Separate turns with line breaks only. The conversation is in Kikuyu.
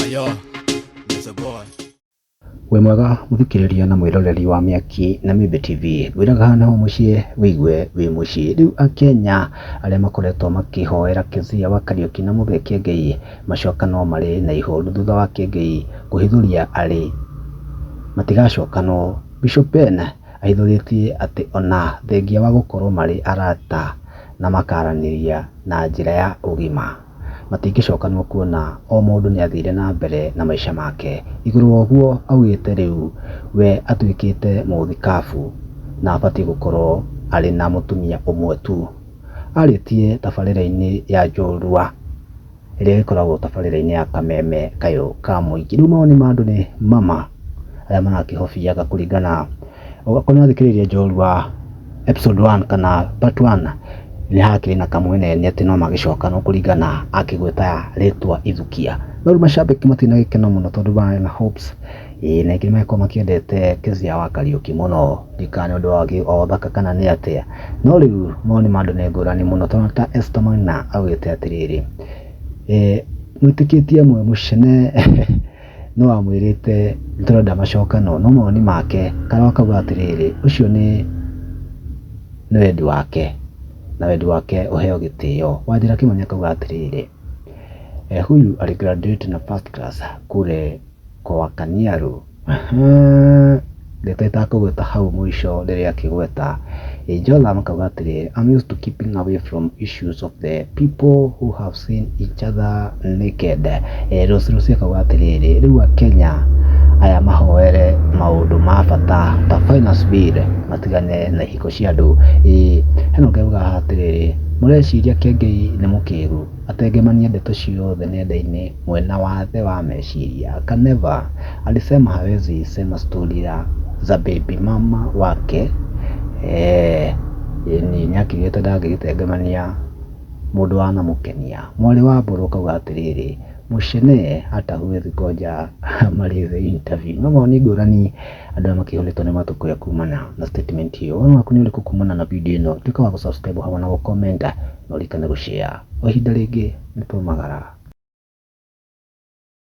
Ayo, Mr. Boy. wĩ
mwega mũthikĩrĩria na mwĩroreri wa mĩaki na mĩmbe tv ngwĩraga hana ho mũciĩ wĩigue wĩ mũciĩ rĩu akenya arĩa makoretwo makĩhoera kezia wa kariũki na mũthee kĩengei macoka no marĩ na ihoru thutha wa kĩengei kũhithũria arĩ matigacokanwo bishop ben ahithũrĩtie atĩ ona thengia wa gũkorwo marĩ arata na makaranĩria na njĩra ya ũgima matingĩcokanwo kuona o mũndũ nĩ athire na mbere na maica make. Igũrũ wa ũguo augĩte rĩu we atuĩkĩte mũthikabu na abatiĩ gũkorwo arĩ na mũtumia ũmwe tu. Arĩtie tabarĩra-inĩ ya njorua ĩrĩa ĩkoragwo tabarĩra-inĩ ya kameme kayũ ka mũingĩ. Rĩu mawoni ma andũ nĩ mama arĩa marakĩhobiaga kũringana Ũgakorwo nĩ wathikĩrĩria njorua episode one kana part one nĩ hakĩrĩ na kamweneni atĩ no magĩcoka no kũringana akĩgweta rĩtwa ithukia no rĩu mashabiki matirĩ na gĩkeno mũno tondũ marĩ na hopes ĩĩ na aingĩ nĩmagĩkorwo makĩendete Kezia wa Kariuki mũno ndikane ũndũ wa gĩ- wa ũthaka kana nĩ atĩa no rĩu mawoni ma andũ nĩ ngũrani mũno tondũ ta Esther Maina augĩte atĩrĩrĩ eh, mwĩtĩkĩtie mwe mũcene nĩ wamwĩrĩte nĩ tũrenda macokano, no mawoni make Karo akauga atĩrĩrĩ ũcio nĩ nĩ wendi wake na wendi wake ũheo gĩtĩo. Wanjĩra Kimani akauga atĩrĩrĩ huyu ali graduate na first class kule kwa Kaniaru. Ndeto itakũgweta hau mũico rĩrĩa akĩgweta, Jotham akauga atĩrĩ, I'm used to keeping away from issues of the people who have seen each other naked. Eh, Rose Rose akauga atĩrĩrĩ, rĩu Akenya aya mahoere maũndũ ma bata ta finance bill matigane na ihiko cia andũ. Ĩĩ, Henock auga haha atĩrĩrĩ, mũreciria Kĩengei nĩ mũkĩgu? Atengemania ndeto ciothe nenda-inĩ mwena wa thĩ wa meciria Kaneva alisema hawezi sema story ya za baby mama wake eeh ĩni nĩakiugĩte ndangĩgĩtengemania mũndũ wanamũkenia mwarĩ wa mbũrũ akauga atĩrĩrĩ Mushene hata huwezi ngoja amalize interview nĩ mawoni ngũrani. Andũ arĩa makĩhũrĩtwo nĩ matũ kũrĩa kumana na statement ĩyo. Woni waku nĩ ũrĩkũ kumana na video ĩno? Tuĩka wa gũ subscribe hamwe na gũ comment na ũririkane gũ share. O ihinda rĩngĩ nĩ twaumagara.